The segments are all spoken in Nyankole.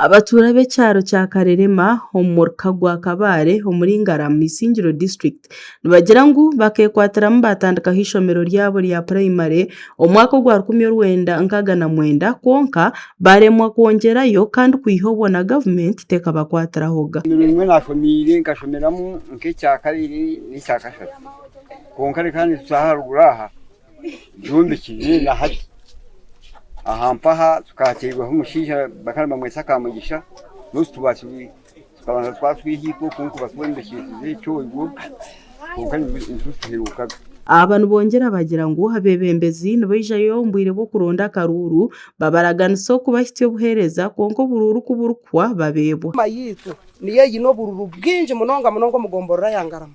Abatuura ab'ekyaro kya Karerema omu muruka gwa Kabale omuri Ngarama Isingiro district nibagira ngu bakekwatiramu batandikaho eishomero ryabo rya primary omwaka ogwa rukumi orwenda nkaaga na mwenda kwonka baremwa kwongyerayo kandi kwiha obwo na government tekabakwatirahoga. Kwonka reka nituza aha ruguru aha Jumbiki ninga Hati. Aha mpaha tukateirweho omushaija bakaba nibamweta Kamugisha Ruth Tubashubi tukabanza twatwiha oku nkuba twombekyesize ekyoigo kwonka nituza tuhirukaga. Aba nibongyera bagira ngu abebembezi nibaijayo omu bwire bw'okuronda akaruuru babaraganisa oku bahitsya obuheereza kwonka oburuuru ku burikuhwa babeebwa. Enyima yaitu niyo eine oburuuru bwingi munonga munonga omu gomborora ya Ngarama.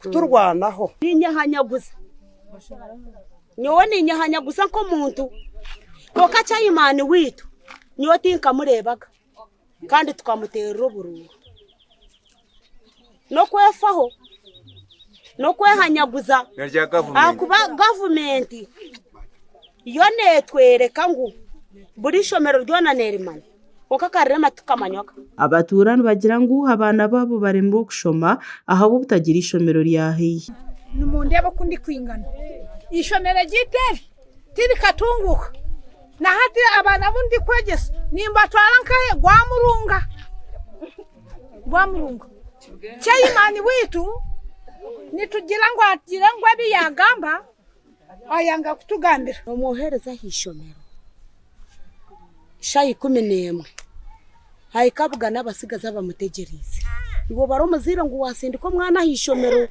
kuturwanaho. Ninyehanyaguza, nyowe ninyehanyaguza nk'omuntu, kwonka Chaimani waitu nyowe tinkamureebaga kandi tukamuteerera oburuuru. N'okwefaho, n'okwehanyaguza ahakuba gavumenti yo neetworeka ngu buri ishomero ryona neerimanya. Kwonka akarira amatu kamanywa ka. Abatuura nibagira ngu abaana baabo baremire okushoma ahabw'obutagira eishomero rya haihi. Nimundeeba oku ndikwingana. Eishomero eryaitu eri tirikatunguuka. Na hati abaana abu ndikwegyesa nimbatwara nkahe? Gwamurunga. Gwamurunga. Chairman waitu nitugira ngu agire ngu ebi yaagamba Ayanga kutugambira. Omwohereza aha ishomero shaaha ikumi n'emwe. Ahika abugana abatsigazi abamutegyereize. Iwe obare omuzaire ngu waatsindika omwana aha ishomero.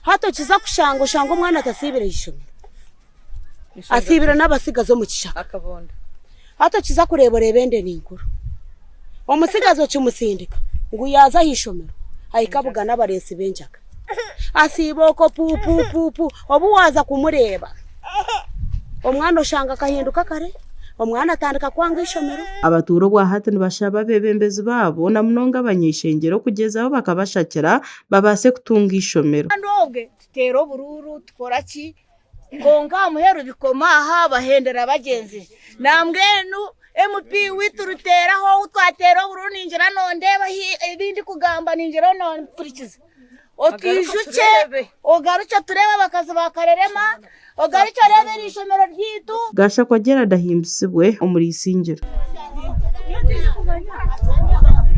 Hati okiza kushanga oshange omwana atasiibire aha ishomero. Asiibire n'abatsigazi omu kishaka. Hati okiza kureeba oreeba ende ni nkuru. Omutsigazi okimutsindika ngu yaaza aha ishomero ahike abugane abareetsi b'enjaga. Asiiba okwo pu pu pu pu. Obu waaza kumureeba omwana oshanga akahinduka kare, omwana atandika kwanga ishomero. Abatuura obwa hati nibashaba abeebembezi baabo na munonga abanyeshengyero okugyezaho bakabashakira babaase kutunga ishomero. Kandi obwe tuteera oburuuru, tukora ki, Kwonka aha muheru bikoma aha bahendera bagyenzi. Nambwenu MP witu Ruteeraho ou twateera obururu ningira nondeeba hi ebi ndikugamba ningira onoompurikiza. Otwijukye ogarukye otureebe abakazi ba Karerema, ogarukye oreebe eri ishomero ryaitu. Gashakwa Gerald ahimbisibwe omuri Isingiro.